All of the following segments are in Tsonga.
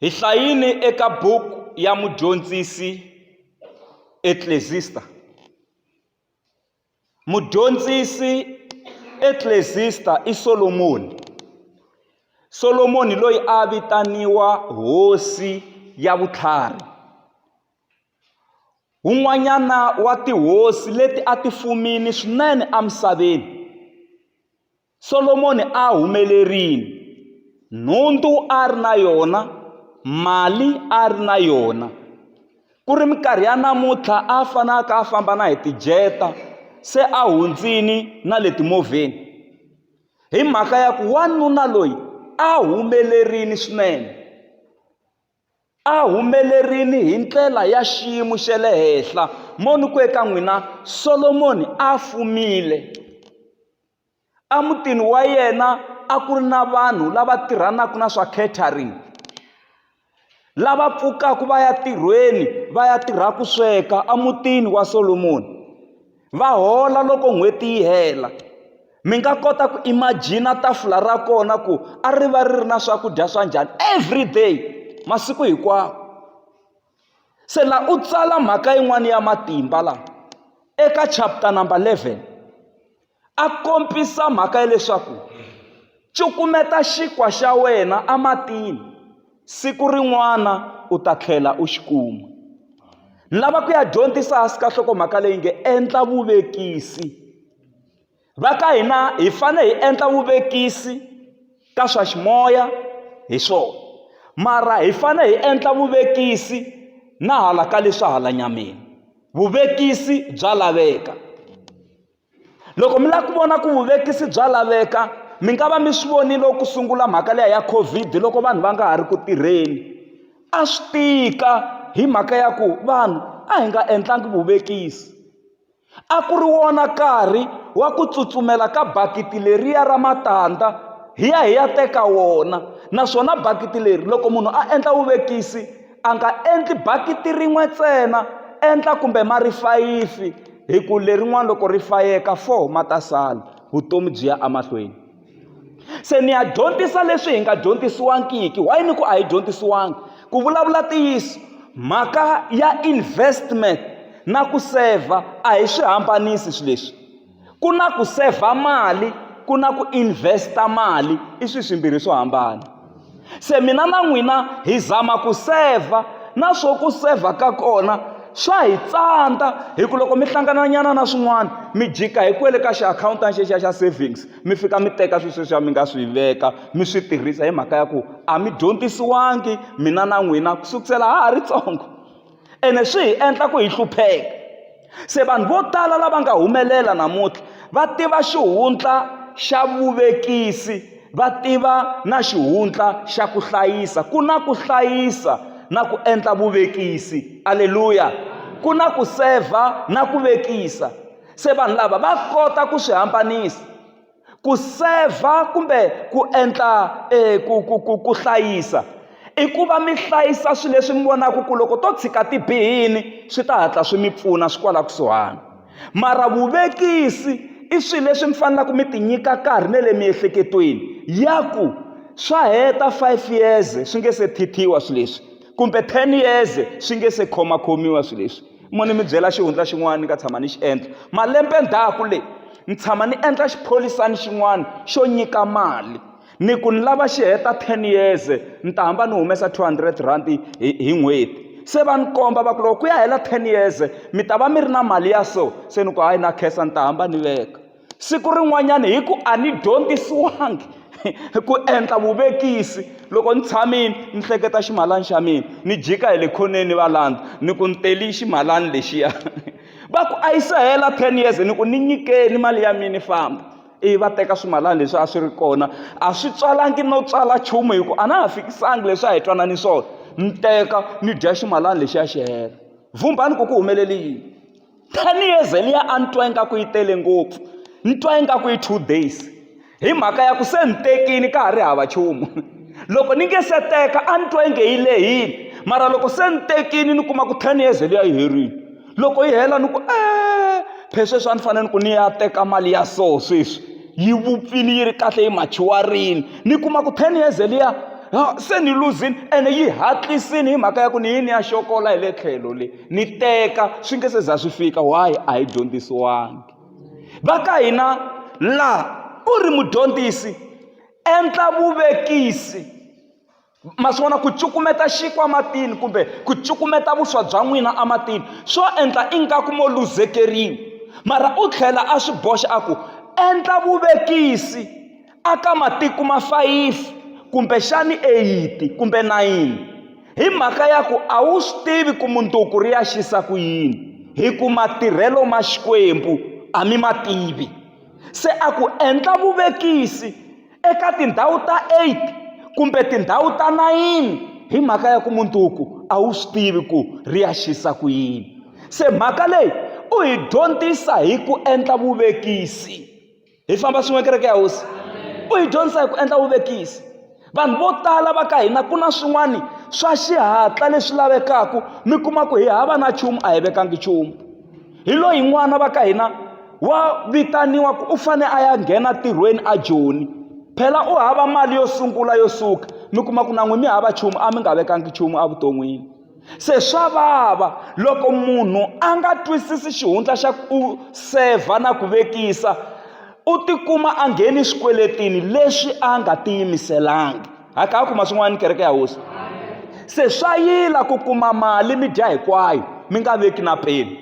Hi hlayile eka buku ya mudyondzisi Eklezista. Mudyondzisi Eklezista i Solomoni. Solomoni loyi a vitaniwa hosi ya vutlhari. Un'wanyana wa tihosi leti a ti fumile swinene emisaveni. Solomoni a humelerile, nhundzu a ri na yona, mali a ri na yona. Ku ri minkarhi ya namuntlha a fanaka a famba na hi tijeta se a hundzini na le timovheni hi mhaka ya ku wanuna loyi a humelerile swinene a humelerile hi ndlela ya xiyimo xa le henhla mo ni ku eka n'wina Solomoni a fumile. emutini wa yena a ku ri na vanhu lava tirhanaka na swa catering lava pfukaka va ya tirhweni va ya tirha ku sweka emutini wa Solomoni va hola loko n'hweti yi hela mi nga kota ku imagine tafula ra kona ku a ri va ri ri na swakudya swa njhani everyday masiku hinkwawo. Se la u tsala mhaka yin'wana ya matimba la eka chapter number 11 a kombisa mhaka ya leswaku cukumeta xinkwa xa wena ematini siku rin'wana u ta tlhela u xi kuma ni lava ku ya dyondzisa hansi ka nhlokomhaka leyi nge endla vuvekisi va ka hina hi fanele hi endla vuvekisi ka swa ximoya hi swona mara hi fanele hi endla vuvekisi na hala ka leswa hala nyameni vuvekisi bya laveka loko mi lava ku vona ku vuvekisi bya laveka mi nga va mi swi vonile ku sungula mhaka leya ya covid loko vanhu va nga ha ri ku tirheni a swi tika hi mhaka ya ku vanhu a hi nga endlangi vuvekisi A ku ri wona nkarhi wa ku tsutsumela ka bakiti leriya ra matandza hi ya hi ya teka wona naswona bakiti leri loko munhu a endla vuvekisi a nga endli bakiti rin'we ntsena endla kumbe ma ri fayifi hi ku lerin'wani loko ri fayeka four ma ta sala vutomi byi ya emahlweni. se ni ya dyondzisa leswi hi nga dyondzisiwangiki why ni ku a hi dyondzisiwangi ku vulavula ntiyiso mhaka ya investment na ku sevha a hi swi hambanisi swilo leswi ku na ku sevha mali ku na ku investa mali i swilo swimbirhi swo hambana se mina na n'wina hi zama ku sevha na swo ku sevha ka kona swa hi tsandza hi ku loko mi hlangananyana na swin'wana mi jika hi kwele ka xiakhawuntini xexiya xa savings mi fika mi teka swilo sweswiya mi nga swi veka mi swi tirhisa hi mhaka ya ku a mi dyondzisiwangi mina na n'wina ku sukela ha ha ri ntsongo. ene swi hi endla ku hi hlupheka se vanhu vo tala lava nga humelela namuntlha va tiva xihundla xa vuvekisi va tiva na xihundla xa ku hlayisa ku na ku hlayisa na ku endla vuvekisi aleluya ku na ku sevha na ku vekisa se vanhu lava va kota ku swi hambanisa ku sevha kumbe ku endla um ku ku ku ku hlayisa i ku va mi hlayisa swilo leswi mi vonaka ku loko to tshika ti bihile swi ta hatla swi mi pfuna swi kwala kusuhani mara vuvekisi i swilo leswi mi faneleke mi ti nyika nkarhi na le miehleketweni ya ku swa heta five years swi nge se thithiwa swilo leswi kumbe ten years swi nge se khomakhomiwa swilo leswi mo ni mi byela xihundla xin'wana ni nga tshama ni xi endla malembe ndzhaku leyi ni tshama ni endla xipholisani xin'wana xo nyika mali ni ku ni lava xi heta ten years ni ta hamba ni humesa two hundred rand hi hi n'hweti se va ni komba va ku loko ku ya hela ten years mi ta va mi ri na mali ya so se ni ku hayi na khensa ni ta hamba ni veka siku rin'wanyana hi ku a ni dyondzisiwangi ku endla vuvekisi loko ni tshamile ni hleketa ximalani xa mina ni jika hi le khoneni va landza ni ku ni teli ximalani lexiya va ku a yi se hela ten years ni ku ni nyikeni mali ya mina ni famba ivi va teka swimalana leswi a swi ri kona a swi tswalangi no tswala nchumu hi ku a na ha fikisanga leswi a hi twanani swona ni teka ni dya ximalana lexiya xi hela vhumbhani ku ku humelele yini ten years liya a ni twa ingaku yi tele ngopfu ni twa ingaku i two days hi mhaka ya ku se ni tekile ka ha ri hava nchumu loko ni nge se teka a ni twa inge yi lehile mara loko se ni tekile ni kuma ku ten years liya yi herile loko yi hela ni ku e phe sweswi a ni fanele ni ku ni ya teka mali ya so sweswi yi vupfile yi ri kahle yi machiwarile ni kuma ku ten years liya se ni luzini ene yi hatlisini hi mhaka ya ku ni yini ya xokola hi le tlhelo leyi ni teka swi nge se za swi fika why a hi dyondzisiwangi va ka hina laha u ri mudyondzisi endla vuvekisi ma swi vona ku cukumeta xinkwa matini kumbe ku cukumeta vuswa bya n'wina ematini swo endla ingaku mo luzekeriwa mara u tlhela a swi boxa a ku endla vuvekisi aka matiko ma fayifi kumbexani eyiti kumbe nayini hi mhaka ya ku a wu swi tivi ku munduku ri ya xisa ku yini hi ku matirhelo ma xikwembu a mi ma tivi se a ku endla vuvekisi eka tindhawu ta 8 kumbe tindhawu ta 9 hi mhaka ya ku munduku a wu swi tivi ku ri ya xisa ku yini se mhaka leyi u hi dyondzisa hi ku endla vuvekisi hi famba swin'we kereke ya hosi u yi dyondzisa hi ku endla vuvekisi vanhu vo tala va ka hina ku na swin'wana swa xihatla leswi lavekaka mi kuma ku hi hava na nchumu a hi vekangi nchumu hi loyi n'wana va ka hina wa vitaniwa ku u fane a ya nghena tirhweni a joni phela u hava mali yo sungula yo suka mi kuma ku na n'wi mi hava nchumu a mi nga vekangi nchumu evuton'wini se swa vava loko munhu a nga twisisi xihundla xa ku sevha na ku vekisa u tikuma a ngheni swikweletini leswi a nga tiyimiselanga hakaku ma swin'wana ni kereke ya hosi se swa yila ku kuma mali mi dya hinkwayo mi nga veki na peni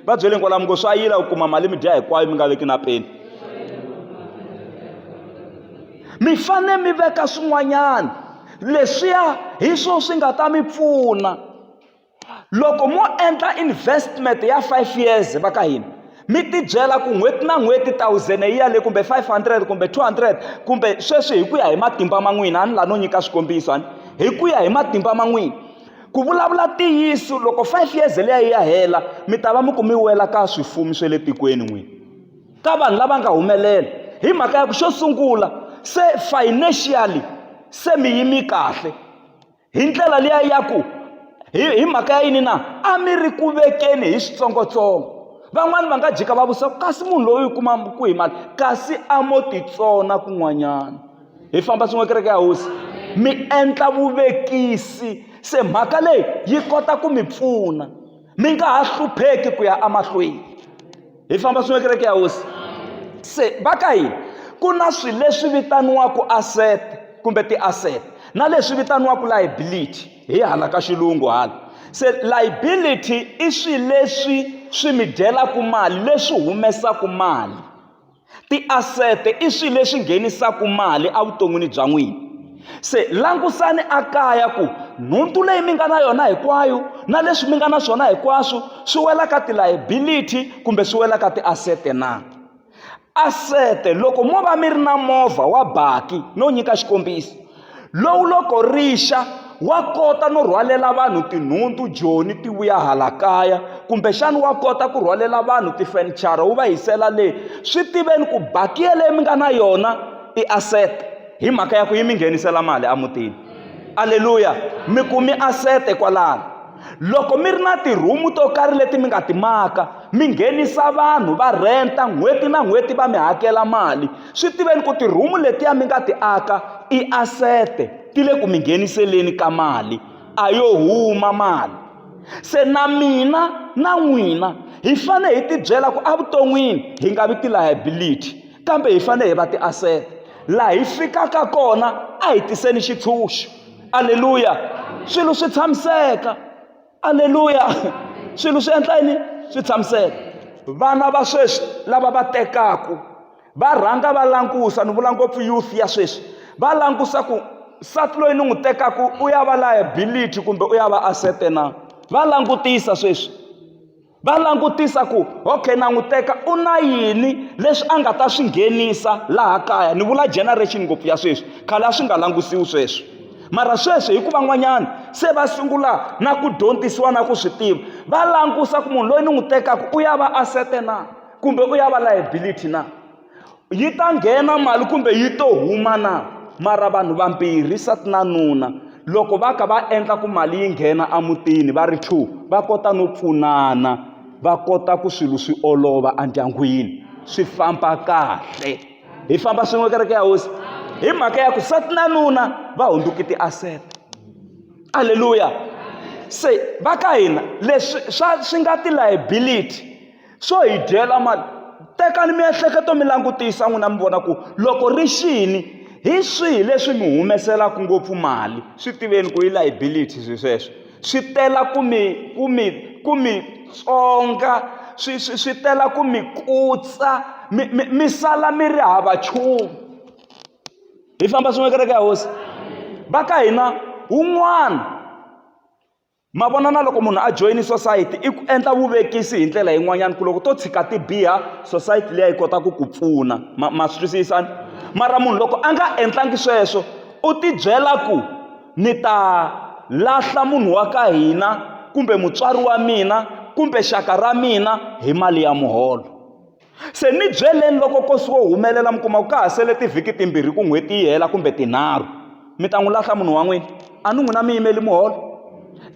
va byele kwalamu ngo swa yila ku kuma mali mi dya hinkwayo mi nga veki na peni mi fanele mi veka swin'wanyana leswiya hi swona swi nga ta mi pfuna loko mo endla investment ya five years va ka hina mi tibyela ku n'hweti na n'hweti thousand yi yale kumbe five hundred kumbe two hundred kumbe sweswi hi ku ya hi matimba ma n'wina a ni la no nyika swikombiso a ni hi ku ya hi matimba ma n'wina ku vulavula ntiyiso loko five years leyi ya hela mi ta va mi ku mi wela ka swifuwo swa le tikweni n'wini ka vanhu lava nga humelela hi mhaka ya ku xo sungula se financially se mi yimi kahle hi ndlela liya ya ku hi hi mhaka ya yini na a mi ri ku vekeni hi switsongotsongo van'wani va nga jika va vutisa kasi munhu loyi u kuma ku hi mali kasi a mo titsona kun'wanyana hi famba swin'we kereke ya hosi mi endla vuvekisi se mhaka leyi yi kota ku mi pfuna mi nga ha hlupheki ku ya emahlweni hi famba swin'we kereke ya hosi se va ka hina ku na swilo leswi vitaniwaka asset kumbe ti-asset na leswi vitaniwaka liability hi hala ka xilungu hala se liability i swilo leswi swi mi dyelaka mali leswi humesaka mali Tiasete i swilo leswi nghenisaka mali evuton'wini bya n'wina se langusani a kaya ku nhundzu leyi mi nga na yona hinkwayo na leswi mi nga na swona hinkwaswo swi wela ka ti-liability kumbe swi wela ka tiasete na asete loko mo va mi ri na movha wa baki no nyika xikombiso lowu loko ri xa wa kota no rhwalela vanhu tinhundzu joni ti vuya hala kaya kumbexana wa kota ku rhwalela vanhu tifenichara wu va yisela le swi tiveni ku bakiya leyi mi nga na yona i asset hi mhaka ya ku yi mi nghenisela mali emutini aleluya mi kumi asset kwalano Loko mi ri na tirhumu to karhi leti mi nga ti maka mi nghenisa vanhu va rhenta n'hweti na n'hweti va mi hakela mali swi tiveni ku tirhumu letiya mi nga ti aka i asete ti le ku mi ngheniseleni ka mali a yo huma mali se na mina na n'wina hi fanele hi tibyela ku evuton'wini hi nga vi ti-liability kambe hi fanele hi va ti-asset laha hi fikaka kona a hi tiseni xitshunxo aleluya swilo swi tshamiseka aleluya swilo swi endla yini swi tshamiseka vana va sweswi lava va tekaku va rhanga va langusa ni vula ngopfu youth ya sweswi va langusa ku nsati loyi ni n'wi tekaka u ya va liability kumbe u ya va asete na va langutisa sweswi va langutisa ku okay na n'wi teka u na yini leswi a nga ta swi nghenisa laha kaya ni vula generation ngopfu ya sweswi khale a swi nga langutisiwi sweswi mara sweswi hikuva n'wanyana se va sungula na ku dyondzisiwa na ku swi tiva va langusa ku munhu loyi ni n'wi tekaka u ya va asete na kumbe u ya va liability na yi ta nghena mali kumbe yi to huma na mara vanhu vambirhi nsati na nuna loko va ka va endla ku mali yi nghena emutini va ri two va kota no pfunana va kota ku swilo swi olova endyangwini swi famba kahle hi famba swin'we kereke ya hosi hi mhaka ya ku nsati na nuna va hundzuke ti-asset aleluya se va ka hina leswi swa swi nga ti-liability swo hi dyela mali tekani miehleketo mi langutisa n'wina mi vona ku loko ri xini hi swihi leswi mi humeselaka ngopfu mali swi tiveni ku yi liability swi sweswo swi tela ku mi ku mi ku mi tsonga swi swi swi tela ku mi kutsa mi mi mi sala mi ri hava nchumu hi famba swin'we kereke ya hosi va ka hina wun'wana Ma vona na loko munhu a joyini sosayiti i ku endla vuvekisi hi ndlela yin'wanyana ku loko to tshika ti biha sosayiti liya yi kota ku ku pfuna ma ma swi twisisa ni mara munhu loko a nga endlangi sweswo u tibyela ku ni ta lahla munhu wa ka hina kumbe mutswari wa mina kumbe xaka ra mina hi mali ya muholo. Se ni byeleni loko ko suka u humelela mi kuma ku ka ha sele tivhiki timbirhi ku n'hweti yi hela kumbe tinharhu mi ta n'wi lahla munhu wa n'wina a ni n'wina mi yimeli muholo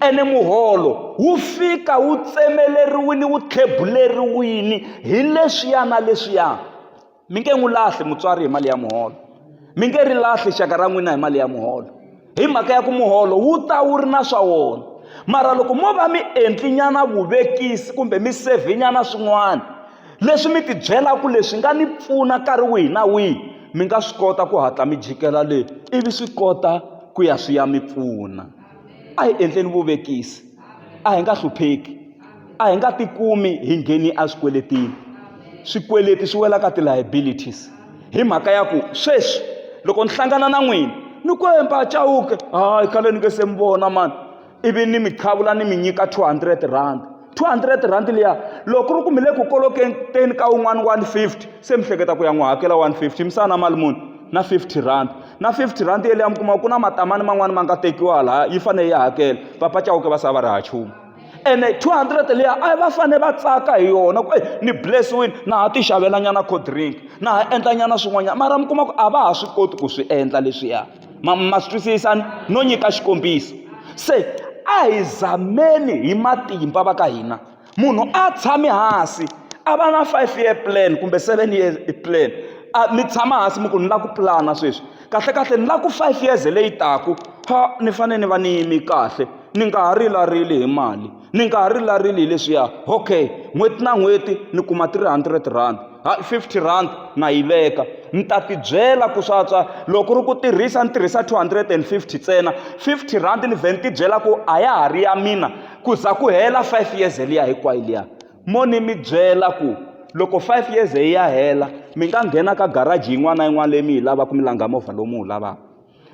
ene muholo wu fika wu tsemeleriwini wu tlhebuleriwini hi leswiya na leswiya mi nge n'wi lahli mutswari hi mali ya muholo mi nge ri lahli xaka ra n'wina hi mali ya muholo hi mhaka ya ku muholo wu ta wu ri na swa wona mara loko mo va mi endlinyana vuvekisi kumbe mi sevhinyana swin'wana leswi mi tibyelaka leswi nga ni pfuna nkarhi wihi na wihi mi nga swi kota ku hatla mi jikela le ivi swi kota ku ya swi ya mi pfuna a hi endleni vuvekisi a hi nga hlupheki a hi nga tikumi hi ngheni eswikweletini swikweleti swi wela ka ti-liabilities hi mhaka ya ku sweswi loko ni hlangana na n'wina ni kwemba a chawuke hayi khale ni nge se mi vona mani ivi ni mi qhavula ni mi nyika 200 rand 200 rand liya loko ku ri ku mi le ku koloketeni ka un'wana 150 se mi hleketa ku ya n'wi hakela 150 misana mali muni na 50 rand na 50 rhandi yeleyo mi kuma ku na matamani man'wani ma nga tekiwa laha yi fanele yi hakela papa chauke va sa va ri ha chumu ene 200 leya a va fanele va tsaka hi yona ku e ni blessiwile na ha ti xavelanyana co drink na ha endlanyana swin'wanyana mara mi kuma ku a va ha swi koti ku swi endla leswiya ma ma swi twisisani no nyika xikombiso se a hi zameni hi matimba va ka hina munhu a tshame hansi a va na five year plan kumbe seven year plan a mi tshama hansi mi ku ni lava ku pulana sweswi kahlekahle ni lava ku five years leyi taka pha ni fanele ni va ni yime kahle ni nga ha rilarili hi mali ni nga ha rilarili hi leswiya okay n'hweti na n'hweti ni kuma three hundred rand hayi fifty rand na yi veka ni ta tibyela ku swatswa loko ri ku tirhisa ni tirhisa two hundred and fifty ntsena fifty rand ni vhe ni tibyela ku a ya ha ri ya mina ku za ku hela five years liya hinkwayo liya mo ni mi byela ku loko five years hi ya hela mi nga nghena ka garaji yin'wana na yin'wana leyi mi yi lavaka mi langha movha lowu mi wu lavaka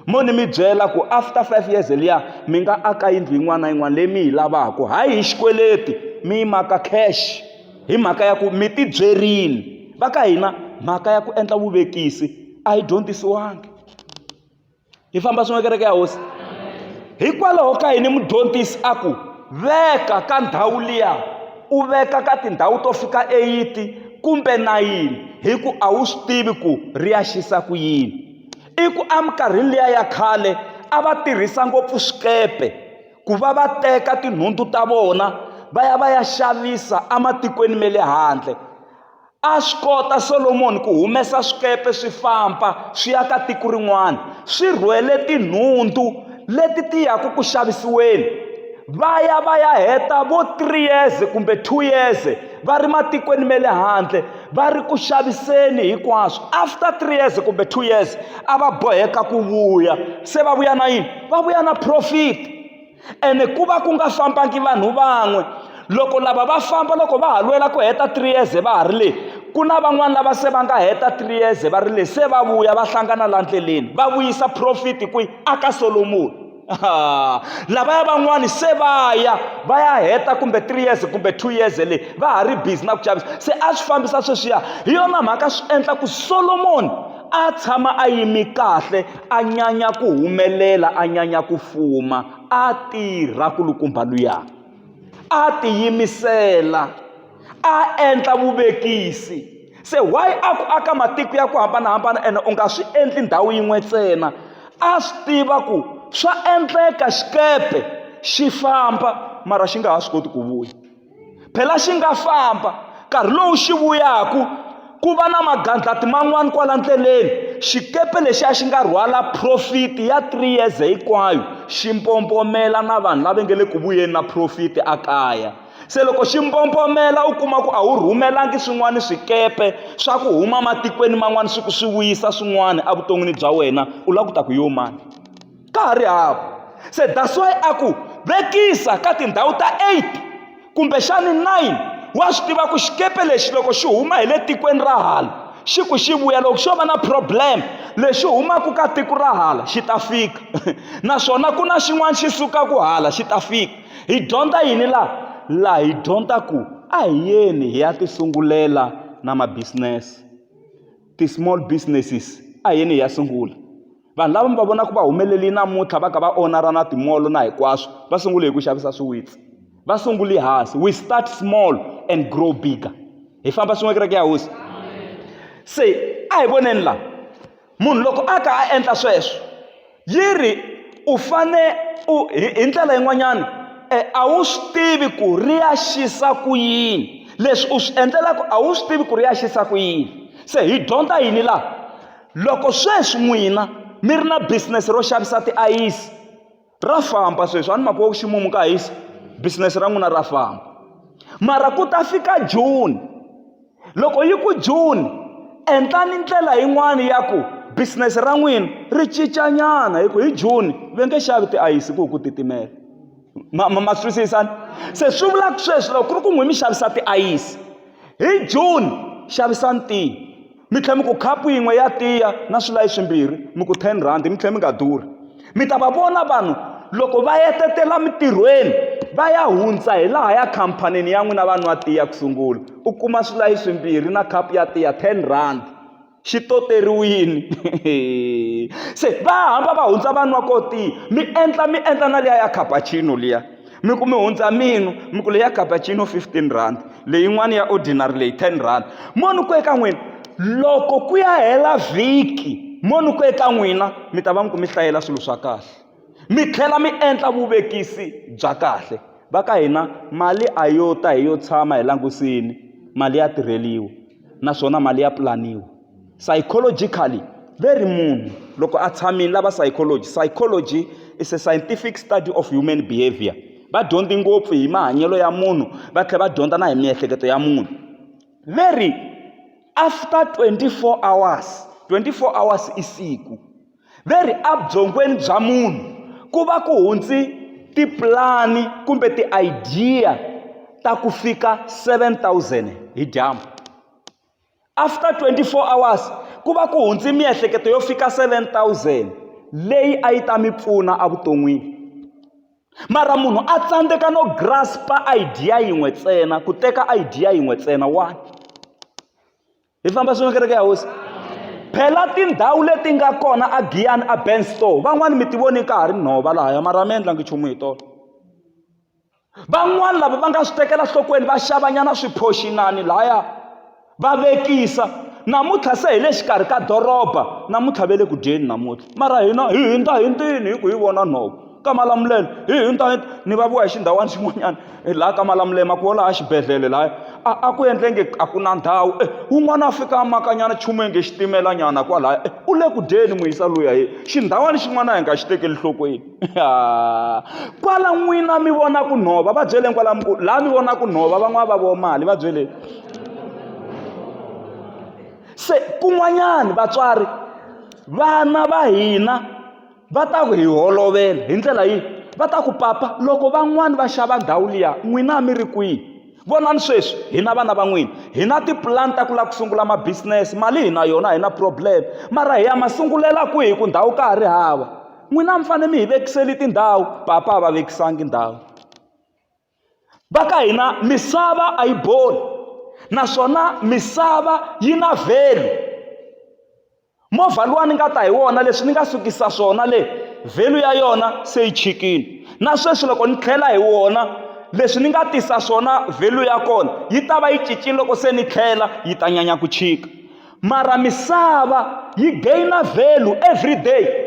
mo ni mi byela ku after five years liya mi nga aka yindlu yin'wana na yin'wana leyi mi yi lavaka hayi hi xikweleti mi yi maka cash hi mhaka ya ku mi ti byerile va ka hina mhaka ya ku endla vuvekisi a yi dyondzisiwangi hi famba swin'we kereke ya hosi hikwalaho ka yini mudyondzisi a ku veka ka ndhawu liya u veka ka tindhawu to fika eyiti kumbe nayini hi ku a wu swi tivi ku ri ya xisa ku yini i ku eminkarhini liya ya khale a va tirhisa ngopfu swikepe ku va va teka tinhundzu ta vona va ya va ya xavisa ematikweni ma le handle A swi kota Solomoni ku humesa swikepe swi famba swi ya ka tiko rin'wana swi rhwele tinhundzu leti ti yaka ku xavisiweni va ya va ya heta vo three years kumbe two years va ri matikweni ma le handle va ri ku xaviseni hinkwaswo after three years kumbe two years a va boheka ku vuya se va vuya na yini va vuya na profit ene ku va ku nga fambangi vanhu van'we loko lava va famba loko va ha lwela ku heta three years va ha ri le ku na van'wani lava se va nga heta three years va ri le se va vuya va hlangana la ndleleni va vuyisa profit kwihi aka solomoni lavaya van'wani se va ya va ya heta kumbe three years kumbe two years le va ha ri busy na ku chavisa se a swi fambisa sweswiya hi yona mhaka swi endla ku solomoni a tshama a yimi kahle A nyanya ku humelela, a nyanya ku fuma, a tirha kulukumba luya. A tiyimisela, a endla vuvekisi. Se why a ku aka matiko ya ku hambanahambana ene u nga swi endli ndhawu yin'we ntsena? A swi tiva ku swa endleka xikepe xi famba mara xi nga ha swi koti ku vuya. phela xi nga famba nkarhi lowu xi vuyaku ku va na magandlati man'wana kwala ndleleni xikepe lexi a xi nga rhwala profiti ya 3 years hinkwayo xi mpompomela na vanhu lava nge le ku vuyeni na profiti a kaya se loko xi mpompomela u kuma ku a wu rhumelangi swin'wana swikepe swa ku huma matikweni man'wana swi ku swi vuyisa swin'wana evuton'wini bya wena u lava ku ta ku yo mani ka ha ri hava se that's why a ku vekisa ka tindhawu ta 8 kumbexani 9 wa swi tiva ku xikepe lexi loko xi huma hi le tikweni ra hala xi ku xi vuya loko xo va na problem lexi humaka ka tiko ra hala xi ta fika naswona ku na xin'wana xi sukaka hala xi ta fika hi dyondza yini laha laha hi dyondza ku a hi yeni hi ya ti sungulela na mabisinesi ti-small businesses a hi yeni hi ya sungula vanhu lava mi va vonaka va humelerile namuntlha va ka va onara na timolo na hinkwaswo va sungule hi ku xavisa swiwitsi va sunguli hansi we start small and grow bigger hi famba swin'we kereke ya hosi se a hi voneni laha munhu loko a ka a endla sweswo yi ri u fane u hi ndlela yin'wanyana e a wu swi tivi ku ri ya xisa ku yini leswi u swi endlelaka a wu swi tivi ku ri ya xisa ku yini se hi dyondza yini laha Loko sweswi n'wina mi ri na business ro xavisa tiayisi ra famba sweswi a ni mhaka wa ku ximumu ka hisa business ra n'wina ra famba mara ku ta fika june loko yi ku june endlani ndlela yin'wani ya ku business ra n'wina ri cincanyana hi ku hi june ve nge xavi tiayisi ku ku titimela ma ma ma twisisani se swi vula ku sweswi loko ku ri ku n'wi mi xavisa tiayisi hi june xavisani tihi mi tlhela mi ku khapu yin'we ya tiya na swilayi swimbirhi mi ku ten rhandi mi tlhela mi nga durhi mi ta va vona vanhu loko va yetetela mitirhweni va ya hundza hi laha ya khampanini ya n'wina va nwa tiya ku sungula u kuma swilayi swimbirhi na khapu ya tiya ten rhandi xi toteriwini se va hamba va hundza va nwa ko tiya mi endla mi endla na liya ya cappuccino liya mi ku mi hundza minu mi ku leyi ya gabacino fifteen rand leyin'wana ya ordinary leyi ten rand mo ni ku eka n'wina loko ku ya hela vhiki mo ni ku eka n'wina mi ta va mi ku mi hlayela swilo swa kahle mi tlhela mi endla vuvekisi bya kahle va ka hina mali a yo ta hi yo tshama hi langusini mali ya tirheliwa naswona mali ya pulaniwa psychologically ve ri munhu loko a tshamile lava psychology psychology is a scientific study of human behavior va dyondzi ngopfu hi mahanyelo ya munhu va tlhela va dyondza na hi miehleketo ya munhu ve ri after 24 hours 24 hours i siku ve ri abyongweni bya munhu ku va ku hundzi tipulani kumbe ti-idea ta ku fika 7000 hi dyambu after 24 hours ku va ku hundzi miehleketo yo fika 7000 leyi a yi ta mi pfuna evuton'wini mara munhu a tsandzeka no grasp idea yin'we ntsena ku teka idea yin'we ntsena wani hi famba swin'we kereke ya hosi phela tindhawu leti nga kona a giyani a ben store van'wani mi ti voni ka ha ri nhova lahaya mara mi endlangi nchumu hi tolo van'wani lava va nga swi tekela nhlokweni va xavanyana swiphoxinani lahaya va vekisa namuntlha se hi le xikarhi ka doroba namuntlha ve le ku dyeni namuntlha mara hina hi hindza hi ntini hi ku hi vona nhova ka Malamulele hi internet ni vulavuriwa hi xindhawana xin'wanyana hi laha ka Malamulele ma ku laha xibedhlele lahaya a a ku endlenge a ku na ndhawu e un'wana a fika a makanyana nchumu enge xitimelanyana kwalaya e u le ku dyeni n'wi yisa luya hi xindhawana xin'wana a hi nga xi tekeli nhlokweni kwala n'wina mi vona ku nhova va byeleni kwala mi ku laha mi vona ku nhova van'wana va vo mali va byeleni se kun'wanyana vatswari vana va hina va ta ku hi holovela hi ndlela yihi va ta ku papa loko van'wani va xava ndhawu liya n'wina a mi ri kwihi vonani sweswi hina vana va n'wina hi na tipulani ta ku lava ku sungula mabisinesi mali hi na yona hi na problem mara hi ya ma sungulela kwihi ku ndhawu ka ha ri hava n'wina a mi fanele mi hi vekiseli tindhawu papa a va vekisangi ndhawu va ka hina misava a yi boli naswona misava yi na value movha luwa ni nga ta hi wona leswi ni nga sukisa swona le value ya yona se yi chikile na sweswi loko ni tlhela hi wona leswi ni nga tisa swona value ya kona yi ta va yi cincile loko se ni tlhela yi ta nyanya ku chika mara misava yi gain value every day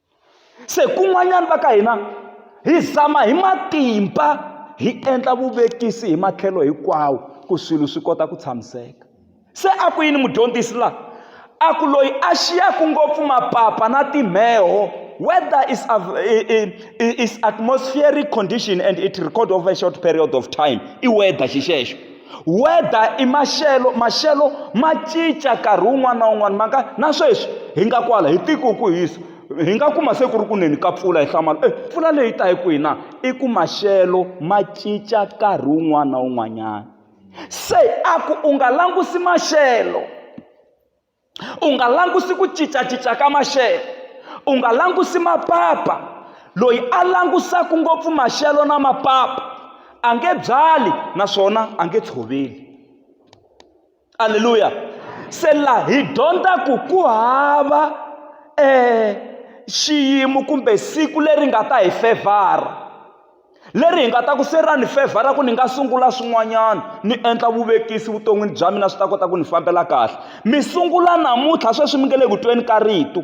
se kun'wanyana va ka hina hi zama hi matimba hi endla vuvekisi hi matlhelo hinkwawo ku swilo swi kota ku tshamiseka se a ku yini mudyondzisi laha a ku loyi a xiyaka ngopfu mapapa na timheho weather is, is atmospheric condition and it record over a short period of time i weather xi xexo weather i maxelo maxelo ma cinca nkarhi wun'wana na wun'wana ma nga na sweswi hi nga kwala hi tiko ku hisa hi nga kuma se ku ri ku neni ka mpfula hi hlamala e mpfula leyi ta hi kwihi na i ku maxelo ma cinca nkarhi wun'wana na wun'wanyana se a ku u nga langusi maxelo u nga langusi ku cincacinca ka maxelo u nga langusi mapapa loyi a langusaka ngopfu maxelo na mapapa a nge byali naswona a nge tshoveli aleluya se la hi dyondza ku ku hava um xiyimo kumbe siku leri nga ta hi fevhara leri hi nga ta ku se ra ni fevhara ku ni nga sungula swin'wanyana ni endla vuvekisi vuton'wini bya mina swi ta kota ku ni fambela kahle mi sungula namuntlha sweswi mi nge le ku tweni ka rito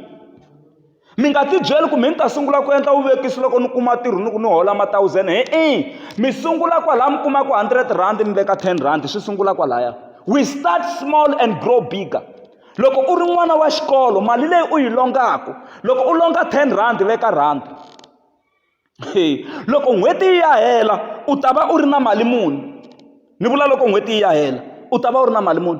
mi nga tibyeli ku mi ni ta sungula ku endla vuvekisi loko ni kuma ntirho ni ku ni hola ma-thousand hi-i mi sungula kwalaha mi kumaka hundred rand mi veka ten rand swi sungula kwalaya we start small and grow bigger loko u ri n'wana wa xikolo mali leyi u yi longaka loko u longa ten rand veka rand loko n'hweti yi ya hela u ta va u ri na mali muni ni vula loko n'hweti yi ya hela u ta va u ri na mali muni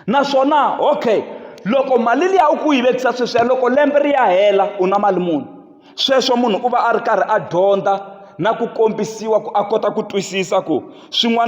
naswona okay loko mali liya u ku yi vekisa sweswiya loko lembe ri ya hela u na mali muni sweswo munhu u va a ri karhi a dyondza na ku kombisiwa ku a kota ku twisisa ku swin'wana.